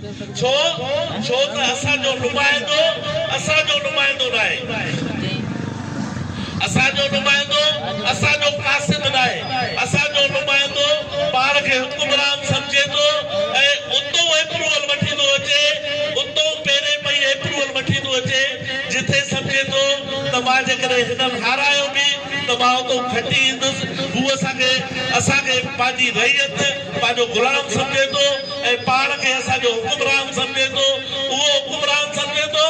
ڇو؟ ڇو ته اسان جو نمائندو اسان جو نمائندو ناهي. اسان جو نمائندو اسان جو قاصد ناهي. اسان جو نمائندو پاڻ کي حڪمران سمجهي ٿو ۽ اتئون ايپروول وٺي ٿو اچي، اتئون پيري پئي ايپروول وٺي ٿو اچي، جتي سمجهي ٿو ته مان جيڪڏهن هنن هارايو به ته مان اتئون کٽي ايندس. هو اسان کي اسان کي پنهنجي رعيت، پنهنجو غلام سمجهي ٿو. ۽ پاڻ کي اسان جو حڪمران سمجهي ٿو، اهو حڪمران سمجهي ٿو،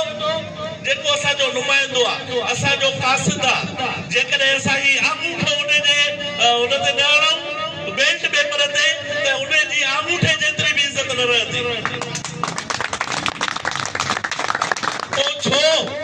جيڪو اسان جو نمائندو آ، اسان جو قاصد آ، جيڪڏهن اسان هي آڱوٺو ان جي ان تي نه هڻائون، بيلٽ پيپر تي، ته ان جي آڱوٺي جيتري به عزت نه رهندي. پوء ڇو؟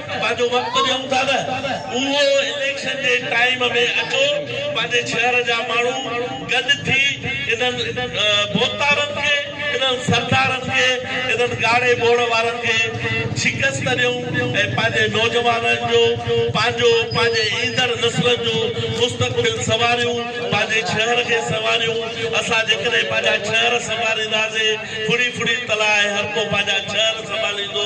پنهنجو وقت ڏيون ٿا نه اهو اليڪشن جي ٽائيم ۾ اچو پنهنجي شهر جا ماڻهو گڏ ٿي انهن ڀوتارن کي انهن سردارن کي انهن ڳاڙهي ٻوڙ وارن کي شڪست ڏيون ۽ پنهنجي نوجوانن جو پنهنجو پنهنجي ايندڙ نسلن جو مستقبل سنواريون پنهنجي شهر کي سنواريون اسان جيڪڏهن پنهنجا شهر سنوارينداسي ڦڙي ڦڙي تلاء هرڪو پنهنجا شهر سنڀاليندو.